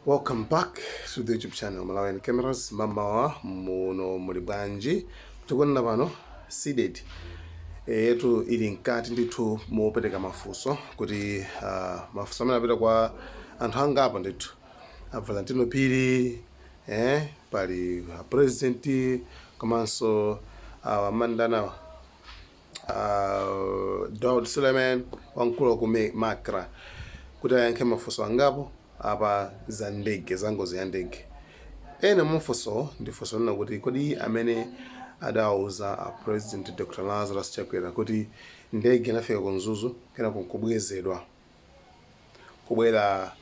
Welcome back to the YouTube channel Malawian Cameras mmamawa muno muli bwanji tikunena pano Cdedi yetu ili mkati ndithu mopereka mafunso kuti uh, mafunso amene apita kwa anthu angapo ndithu a Valentino Phiri eh, pali a president komanso awa uh, mandanawa uh, Daud Suleiman wamkulu wa ku Mi- Macra kuti ayankhe mafunso angapo apa za ndege za ngozi ya ndege ena mwa mafunsowo ndi funso lina kuti kodi amene adawauza a president dr lazarus chakwera kuti ndege inafika ku mzuzu kenako nkubwezedwa kubwera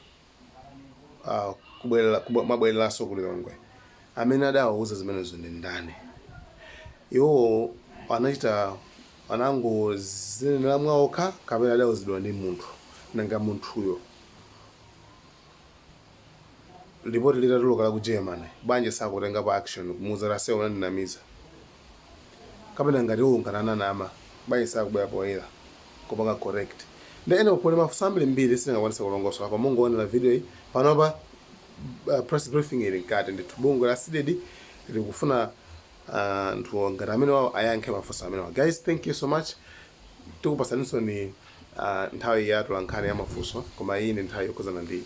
uh, kubwera kubwe- kubwereranso ku lilongwe amene adawauza zimenezo ndi ndani iwowo anachita anangozinenera mwaokha kapena adauzidwa ndi munthu nanga munthuyo Lipoti litatuluka la ku Germany, bwanji sakutengapo action kumuuza kuti ase unandinamiza? Kapena ngati iwo ngati ananama, bwanji sakubwera poyera kupanga correct? Nde anyway kuli mafunso ambirimbiri sindingakwanise kulongosola koma mungoonera video yi, panopa press briefing ili mkati ndithu bungwe la Cdedi likufuna anthu ngati amenewawa ayankhe mafunso amenewa. Guys thank you so much Tikupasaninsoni nthawi ya atolankhani ya mafunso koma iyi ndi nthawi yokhuzana ndi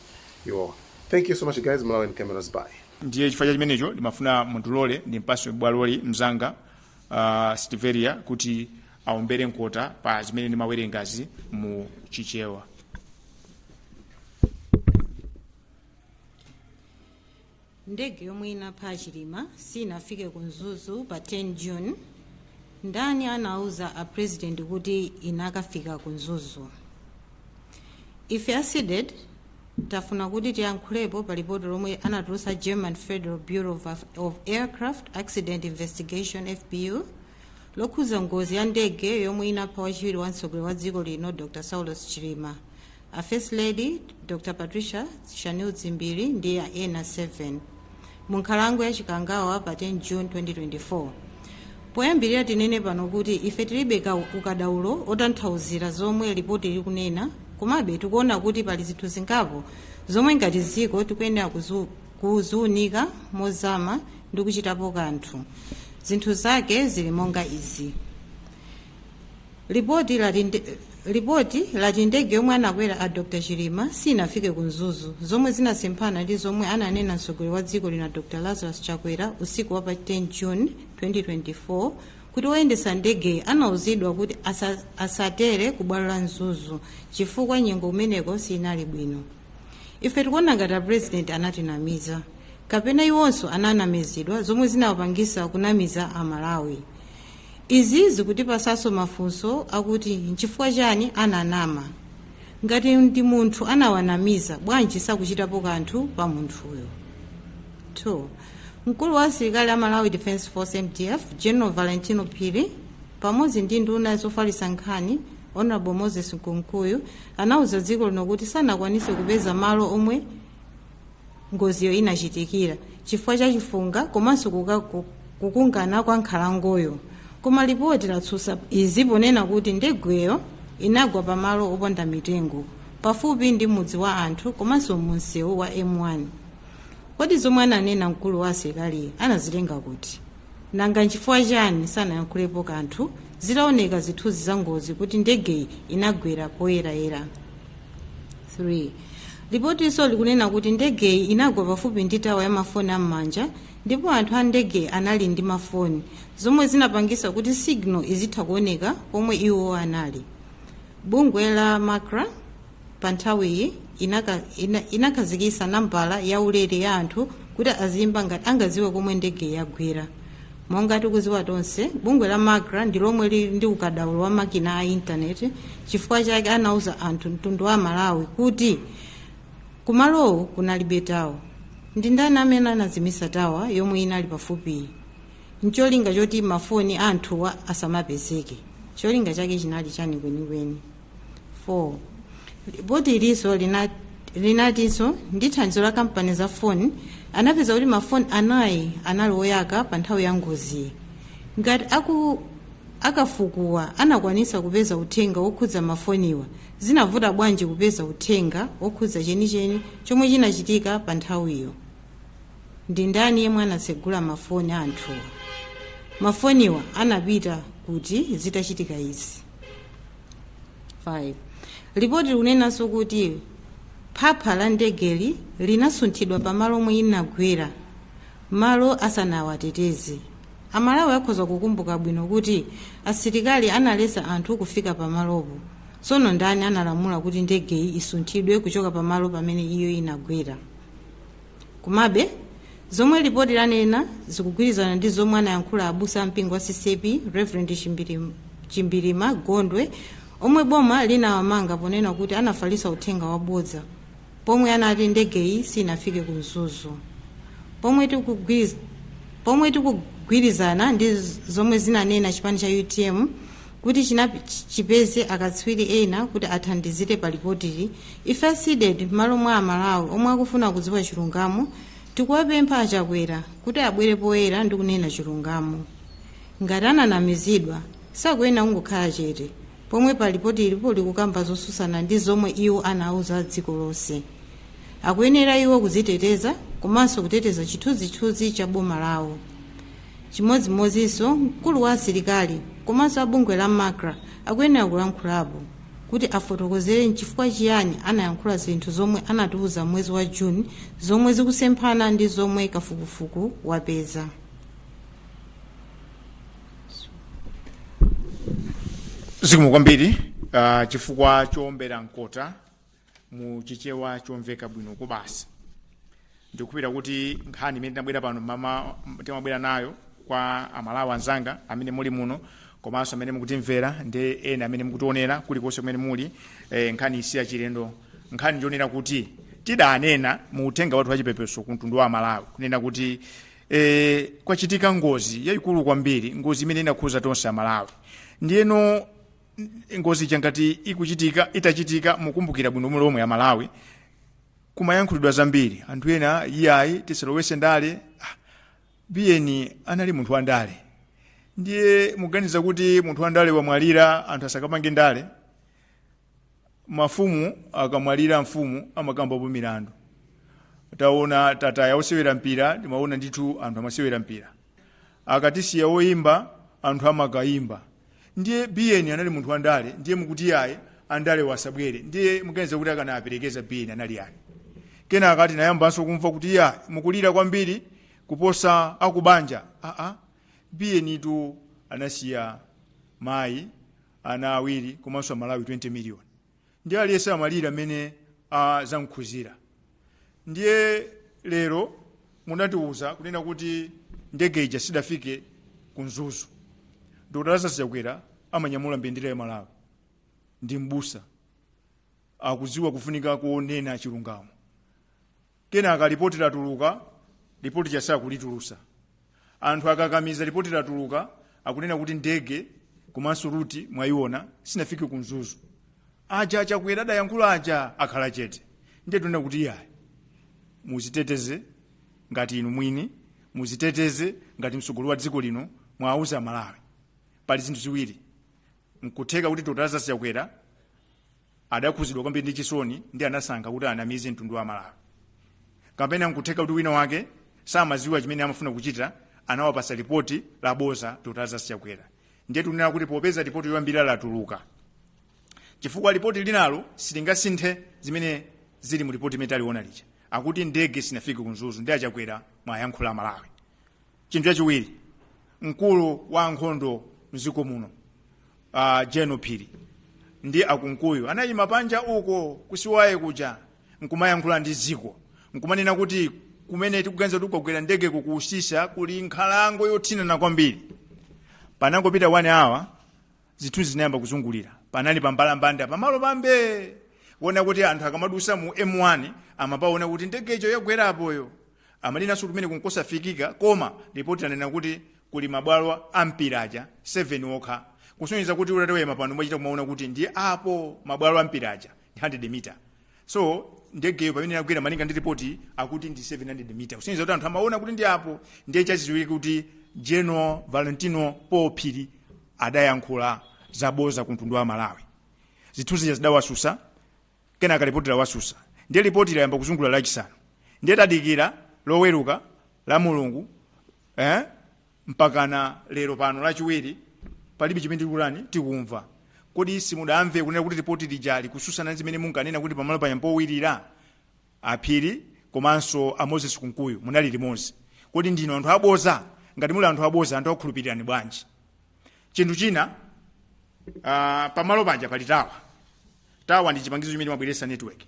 iwowa. Thank you so much guys, Malawian Cameras bye. Ndiye chifukwa cha chimenecho ndimafuna mundilole ndimpase bwaloli mnzanga uh, Stevelia kuti aombere mkota pa zimene ndimawerengazi mu Chichewa. Ndege yomwe inapha a Chilima siinafike ku Mzuzu pa 10 June, ndani anauza a President kuti inakafika ku Mzuzu? Ife a Cdedi tafuna kuti tiyankhulepo pa lipoti lomwe anatulutsa German Federal Bureau of Aircraft Accident Investigation FBU lokhuza ngozi ya ndege yomwe inapha wachiwiri wa mtsogoleri wa dziko lino Dr. Saulos Chilima a First Lady Dr Patricia Shanil Dzimbiri ndi ena 7 mu nkhalango ya Chikangawa pa 10 June 2024. Poyambirira tinene pano kuti ife tilibe ka- ukadaulo otanthauzira zomwe lipoti likunena komabe tikuona kuti pali zinthu zingapo zomwe ngati dziko tikuyenera kuzu- kuziunika mozama ndi kuchitapo kanthu. Zinthu zake zili monga izi. Lipoti lati nde- Lipoti lati ndege yomwe anakwera a Dr Chilima siinafike ku Mzuzu, zomwe zinasemphana ndi zomwe ananena mtsogoleri wa dziko lino a Dr Lazarus Chakwera usiku wa pa 10 June 2024 kuti woyendetsa ndegeyi anauzidwa kuti asa, asatere ku bwalo la Mzuzu chifukwa nyengo kumeneko siinali bwino. Ife tikuona ngati a president anatinamiza kapena iwonso ananamizidwa zomwe zinawapangisa kunamiza a Malawi. izi zikutipasanso mafunso akuti nchifukwa chani ananama ngati ndi munthu anawanamiza bwanji sakuchitapo kanthu pa munthuyo 2 mkulu wa asilikali a malawi defense force mdf general valentino phiri pamodzi ndi nduna zofalitsa nkhani honorable moses kunkuyu anauza dziko lino kuti sanakwanise kupeza malo omwe ngoziyo inachitikira chifukwa cha chifunga komanso kuka- ku- kukungana kwa nkhalangoyo koma lipoti latsutsa izi ponena kuti ndegeyo inagwa pamalo opanda mitengo pafupi ndi mudzi wa anthu komanso mumsewu wa m1 kodi zomwe ananena mkulu wa asilikali anazitenga kuti nanga nchifukwa chani sanayankhulepo kanthu zitaoneka zithunzi za ngozi kuti ndegeyi inagwera poyerayera 3 lipotinso likunena kuti ndegeyi inagwa pafupi ndi tawa ya mafoni am'manja ndipo anthu a ndegeyi anali ndi mafoni zomwe zinapangisa kuti signal izitha kuoneka pomwe iwo anali bungwe la macra pa nthawiyi inaka- ina- inakhazikisa nambala ya ulere ya anthu kuti aziyimba ngati angaziwe komwe ndegeyi yagwera monga tikuziwa tonse bungwe la macra ndi lomwe lili ndi ukadaulo wa makina a intaneti chifukwa chake anauza anthu mtundu wa amalawi kuti kumalowo kunalibe tawa ndi ndani amene anazimisa tawa yomwe inali pafupiyi ncholinga choti mafoni a anthuwa asamapezeke cholinga chake chinali chani kwenikweni 4 lipoti ilinso lina- linatinso ndi thandizo la kampani za foni anapeza kuti mafoni anayi anali oyaka pa nthawi ya ngoziyi ngati aku akafukuwa anakwanisa kupeza uthenga wokhudza mafoniwa zinavuta bwanji kupeza uthenga wokhudza chenicheni chomwe chinachitika pa nthawiyo ndi ndani yemwe anatsegula mafoni a anthuwa mafoniwa anapita kuti zitachitika izi 5 lipoti likunenanso kuti phapha la ndegeli linasunthidwa pamalo omwe inagwera malo asanawateteze amalawi akhoza kukumbuka bwino kuti asilikali analesa anthu kufika pamalopo tsono ndani analamula kuti ndegeyi isunthidwe kuchoka pamalo pamene iyo inagwera Komabe, zomwe lipoti lanena zikugwirizana ndi zomwe anayankhula abusa a mpingo wa CCAP Reverend Chimbirim- Chimbirima Gondwe omwe boma linawamanga ponena kuti anafalitsa uthenga wabodza pomwe anati ndegeyi sinafike ku Mzuzu. Pomwe tikugwiz- pomwe tikugwirizana ndi z- zomwe zinanena chipani cha UTM kuti chinap chipeze akatswiri ena kuti athandizire pa lipotili ife a cdedi m'malo mwa amalawi omwe akufuna kudziwa chilungamo tikuwapempha a chakwera kuti abwere poyera ndi kunena chilungamo ngati ananamizidwa sakuyenera kungokhala chete pomwe pa lipoti ilipo likukamba zosusana ndi zomwe iwo anauza dziko lonse akuyenera iwo kuziteteza komanso kuteteza chithunzithunzi cha boma lawo Chimodzimodzinso mkulu wa asilikali komanso a bungwe la Macra akuyenera kulankhulapo kuti afotokozere n'chifukwa chiyani anayankhula zinthu zomwe anatiuza m'mwezi wa June zomwe zikusemphana ndi zomwe kafukufuku wapeza. zikomo kwambiri uh, chifukwa choombera mkota mu chichewa chomveka bwino kwabasi ndikhulupirira kuti nkhani imene tinabwera pano mama timabwera nayo kwa amalawi anzanga amene muli muno komanso amene mukutimvera ndi ena amene mukutionera kulikonse kumene muli eh, nkhaniyi siyachilendo nkhani ndi yonena kuti tidanena mu uthenga wathu wachipepeso ku mtundu wa amalawi kunena kuti eh, kwachitika ngozi yayikulu kwambiri ngozi imene inakhuza tonse amalawi ndiyeno ngozi ija ngati ikuchitika itachitika mukumbukira bwino lomwe amalawi kumayankhulidwa zambiri anthu ena iyayi tisalowese ndale Ah, biyeni anali munthu wa ndale ndiye muganiza kuti munthu wa ndale wamwalira anthu asakapange ndale mafumu akamwalira mfumu amakambapo milandu taona tataya osewera mpira timaona ndithu anthu amasewera mpira akatisiya oyimba anthu amakayimba ndiye biyeni anali munthu wandale ndiye mukuti yayi andale asabwere ndiye muganiza kuti akanaperekeza biyeni anali yani kenaka tinayambanso kumva kuti yayi mukulira kwambiri kuposa akubanja aa biyenitu anasiya mayi ana awiri komanso amalawi 20 miliyoni ndi aliyense amalira m'mene zamkhuzira ndiye lero munatiwuza kunena kuti ndege ija sidafike ku mzuzu dr lazarus chakwera amanyamula mbendera ya malawi ndi mbusa akudziwa kufunika konena chilungamo kenaka lipoti latuluka lipoti chasaya kulitulusa anthu akakamiza lipoti latuluka akunena kuti ndege komanso ruti mwaiona sinafike ku mzuzu aja achakwera adayankhula aja akhala chete ndiye tunena kuti iyayi muziteteze ngati inu mwini muziteteze ngati mtsogoleri wa dziko lino mwauza amalawi pali zinthu ziwiri nkutheka kuti dr lazarus chakwera adakhuzidwa kwambiri ndi chisoni ndi anasankha kuti anamize mtundu wa malawi kapena nkutheka kuti wina wake amaziwa chimene amafuna kuchita anawapasa lipoti laboza dr lazarus chakwera ndiye tunena kuti popeza lipoti yoyambirira latuluka chifukwa lipoti linalo silingasinthe zimene zili mu lipoti imene taliona lija akuti ndege sinafike ku mzuzu ndiye achakwera mwayankhula amalawi chinthu chachiwiri mkulu wa ankhondo mdziko muno uh, general phiri ndi akunkuyu anayima panja uko ku siwaye kuja nkumayankhula ndi dziko nkumanena kuti kumene tikuganiza kuti kwagwera ndege ku usisya kuli nkhalango yothinana kwambiri panangopita wani awa zithunzi zinayamba kuzungulira panali pambalambanda pamalo pambee oonekera kuti anthu akamadusa mu m1 amapaona kuti ndege ijo yagwera apoyo amanenanso kuti kumeneko nkosafikika koma lipoti lanena kuti kuli mabwalo a mpira aja 7 okha kusonyeza kuti utayima pano umachita kumaona kuti ndi apo mabwalo a mpira aja ndi 100 mita so ndegeyo pamene inagwera malinga ndi ripoti akuti ndi 700 mita kusonyeza kuti anthu amaona kuti ndi apo ndiye chachidziwika kuti general valentino paul phiri adayankhula zaboza ku mtundu wa malawi zithunzi zidawasusa kenaka lipoti lawasusa ndiye lipoti layamba kuzungulira lachisanu ndiye tadikira loweruka lamulungu eh? mpakana lero pano lachiwiri palibe chimene tikutani tikumva kodi simudamve kunena kuti lipoti lija likususana ndi zimene munkanena kuti pamalo panya powirira aphiri komanso a moses kunkuyu munali limodzi kodi ndinu anthu aboza ngati muli anthu aboza anthu akukhulupirirani bwanji chinthu china uh, pamalo panja pali tawa tawa ndi chipangizo chimene chimabweretsa network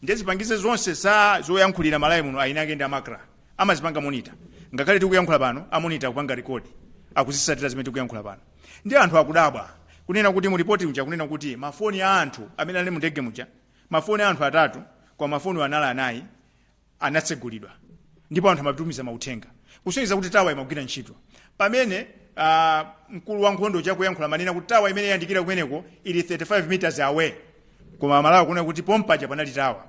ndiye zipangizo zonse za zoyankhulira mmalawi muno eni ake ndi a macra amazipanga monita ngakhale tikuyankhula pano amonita kupanga rekodi akuzisatira zimene tikuyankhula pano ndiye anthu akudabwa kunena kuti mu ripoti muja kunena kuti mafoni a anthu amene anali mu ndege muja mafoni a anthu atatu kwa mafoni anali anayi anatsegulidwa ndipo anthu amatumiza mauthenga kusonyeza kuti tawa imagwira ntchito pamene uh, mkulu wa nkhondo akuyankhula amanena kuti tawa imene yayandikira kumeneko ili 35 meters away koma amalawi akuona kuti pompaja panali tawa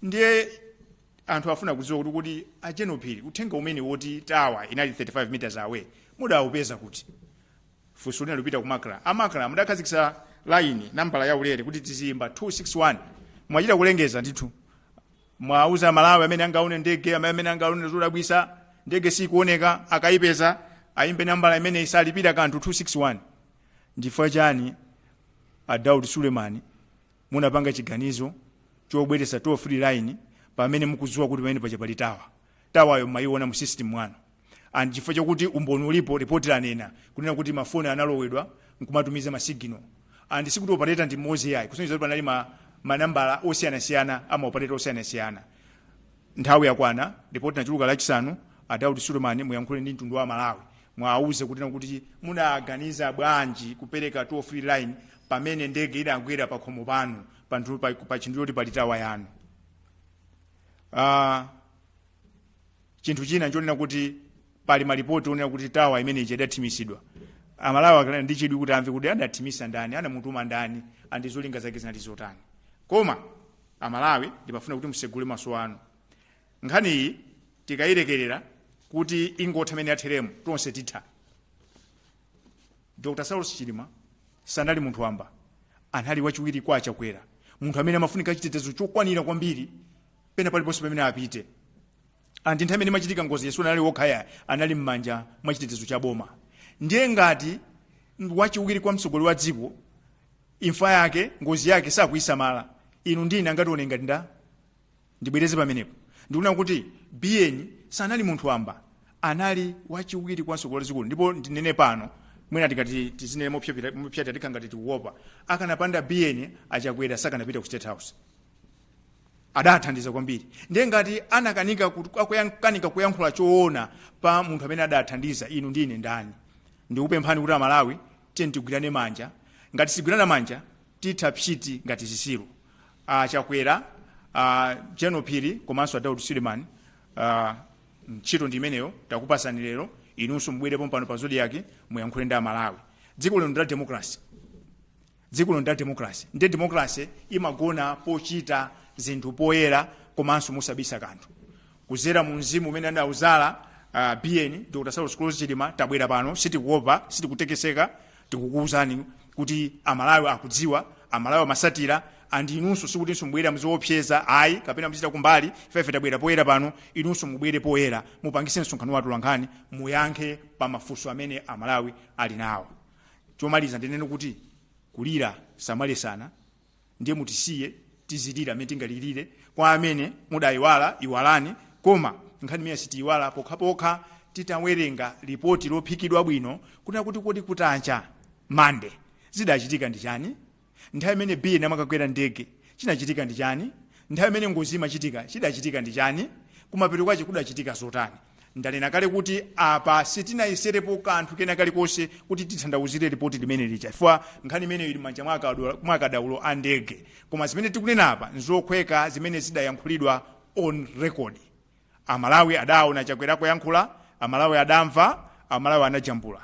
ndiye anthu afuna kudziwa kuti kodi a general phiri uthenga umenewu oti tawa inali 35 meters away mudaupeza kuti funso lina lupita ku macra a macra mudakhazikisa line nambala ya ulere kuti tiziyimba 261 mumachita kulengeza ndithu mwauza amalawi amene angaone ndege amene amene angaone zodabwisa ndege sikuoneka akayipeza ayimbe nambala imene isalipira kanthu 261 ndifukwa chani a daud suleman munapanga chiganizo chobweretsa toll free line pamene mukudziwa kuti pamene paja palitawa tawayo mumayiona mu system mwanu and chifukwa chakuti umboni ulipo report lanena kunena kuti mafoni amalowa nkumatumiza masigino and sikuti operator ndi mmodzi yayi kusonyeza kuti panali manambala osiyanasiyana ama operator osiyanasiyana nthawi yakwana report latuluka lachisanu a Daud Suleman muyankhule ndi mtundu wa Malawi mwauze kuti kuti munaganiza bwanji kupereka toll free line pamene ndege idagwera pa khomo panu pa nthu- pa- pa chinthu choti pali tawa yanu uh, chinthu china nchonena kuti pali malipoti onena kuti tawa imene ija idathimisidwa amalawi akanali ndi chidwi kuti amve kuti adathimisa ndani anamutuma ndani andi zolinga zake zinali zotani koma amalawi ndimafuna kuti musegule maso anu nkhani iyi tikayilekerera kuti ingotha mmene yatheremu tonse titha dr saulos chilima sanali munthu wamba anali wachiwiri kwa achakwera munthu amene amafunika chitetezo chokwanira kwambiri pena paliponse pamene apite andi nthawi imene imachitika ngoziyi sanali okha ayi anali m'manja mwa chitetezo cha boma ndiye ngati wachiwiri kwa mtsogoleri wa dziko imfa yake ngozi yake sakuyisamala inu ndi ine angatione ngati nda ndibwereze pamenepo ndikunena kuti biyeni sanali munthu wamba anali wachiwiri kwa mtsogoleri wa dziko ndipo ndinene pano mwina tikati tizinene mopyapita- mopyatira tikhala ngati tikuopa akanapanda biyeni achakwera sakanapita ku state house adathandiza kwambiri ndiye ngati anakanika kut- akuyan- kanika kuyankhula choona pa munthu amene adathandiza inu ndi ine ndani ndikupemphani kuti amalawi tiyeni tigwirane manja ngati sitigwirana manja titha psiti ngati zisiru a chakwera a general phiri komanso a daud suleman a, ntchito ndi imeneyo takupasani lero inunso mubwere pompano pa zodiak muyankhule ndi amalawi dziko lino ndi la democracy dziko lino ndi la democracy ndi democracy imagona pochita zinthu poyera komanso mosabisa kanthu kuzera mu mzimu umene anauzala uh, biyeni dr saulos klaus chilima tabwera pano sitikuopa sitikutekeseka tikukuwuzani kuti amalawi akudziwa amalawi amasatira andi inunso sikutinso mubwera muziopseza ayi kapena muzichita kumbali ifefe tabwera poyera pano inunso mubwere poyera mupangise msonkhano wa atolankhani muyankhe pa mafunso amene amalawi ali nawo chomaliza ndinene kuti kulira samaletsana ndiye mutisiye tizilira amene tingalilire kwa amene mudayiwala iwalani koma nkhani imene sitiyiwala pokhapokha titawerenga lipoti lophikidwa bwino kunena kuti kodi kutacha mande zidachitika ndi chani nthawi imene biyeni amakakwera ndege chinachitika ndi chani nthawi imene ngozi imachitika chidachitika ndi chani kumapeto kwache kudachitika zotani ndanena kale kuti apa sitinayeserepo kanthu kena kalikonse kuti titanthauzire ripoti limeneli chifukwa nkhani imeneyi ili mmanja mwa akadaulo a ndege koma zimene tikunena apa nzophweka zimene zidayankhulidwa on record amalawi adaona chakwera akuyankhula amalawi adamva amalawi anajambula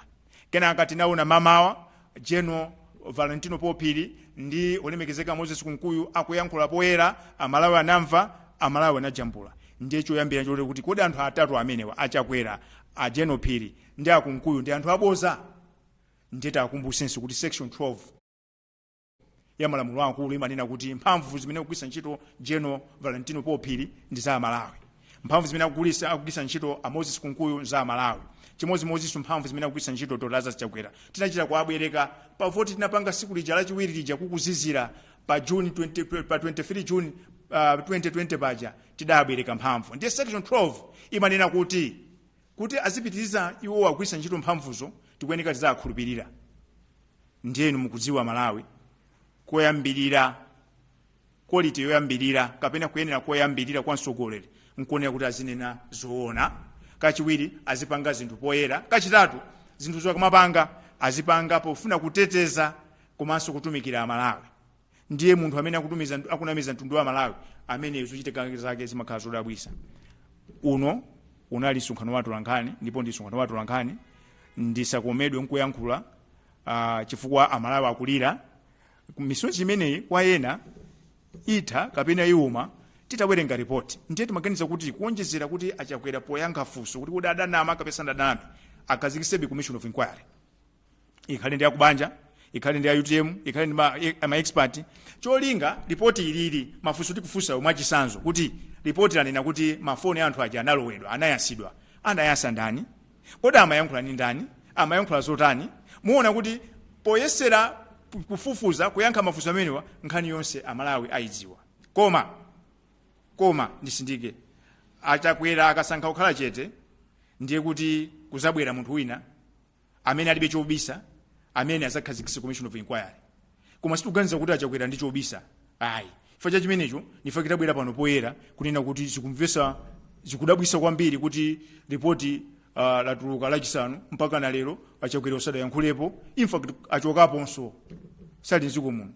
Kenaka tinaona mamawa General Valentino Paul Phiri ndi olemekezeka Moses Kunkuyu akuyankhula poyera, Amalawi anamva, Amalawi anajambula. Ndiye choyambira nchoti nkuti kodi anthu atatu amenewa, a Chakwera, a General Phiri ndi a Kunkuyu ndi anthu aboza? Ndiye tiwakumbusenso kuti section 12. ya malamulo akulu imanena kuti mphamvu zimene akugwiritsa ntchito general valentino paul phiri ndi za amalawi mphamvu zimene akugwiritsa akugwiritsa ntchito a moses kunkuyu za amalawi chimodzimodzinso mphamvu zimene akugwiritsa ntchito dr lazarus chakwera tinachita kuwabwereka pa voti tinapanga tsiku lija lachiwiri lija kukuzizira pa june 20, pa 23 june uh, 2020 paja tidabwereka mphamvu ndiye section 12 imanena kuti kuti azipitiriza iwowa kugwiritsa ntchito mphamvuzo tikuyeneka tiziwakhulupirira ndiye inu mukudziwa malawi koyambirira quality yoyambirira kapena kuyenera koyambirira kwa mtsogoleri nkuonera kuti azinena zoona kachiwiri azipanga zinthu poyera kachitatu zinthuzo akamapanga azipanga pofuna kuteteza komanso kutumikira amalawi ndiye munthu amene akutumiza akunamiza mtundu wa amalawi amene zochitika zake zimakhala zodabwisa unu unali msonkhano wa atolankhani ndipo ndi msonkhano wa atolankhani ndisakomedwe nkuyankhula uh, chifukwa amalawi akulira misonzi imeneyi kwa ena itha kapena iwuma titawerenga ripoti ndiye timaganiza kuti kuonjezera kuti achakwera poyankha funso kuti kodi adanama kapena sadaname akhazikisebe commission of inquiry ikhale ndi akubanja ikhale ndi a utm ikhale ndi ma- e- ma expert cholinga ripoti ilili mafunso tikufunsayo mwachisanzo kuti ripoti lanena kuti mafoni a anthu aja analowetsedwa anayasidwa anayasa ndani kodi amayankhula ndi ndani amayankhula zotani muona kuti poyesera ku- kufufuza kuyankha mafunso amenewa nkhani yonse amalawi ayidziwa koma koma ndisindike achakwera akasankha kukhala chete ndiye kuti kuzabwera munthu wina amene alibe chobisa amene azakhazikisa commission of inquiry koma sitikuganiza kuti achakwera ali ndi chobisa ayi chifukwa cha chimenecho nchifukwa tabwera pano poyera kunena kuti zikumvesa zikudabwisa kwambiri kuti ripoti uh, latuluka lachisanu mpaka na lero achakwera sadayankhulepo infact achokaponso sali mdziko muno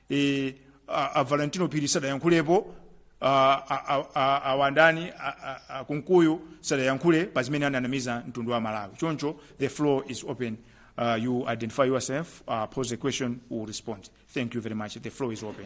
e, a, a valentino phiri sadayankhulepo a wandani a kunkuyu sadayankhule pa zimene ananamiza mtundu wa malawi choncho the floor is open uh, you identify yourself uh, pose a question we'll respond thank you very much the floor is open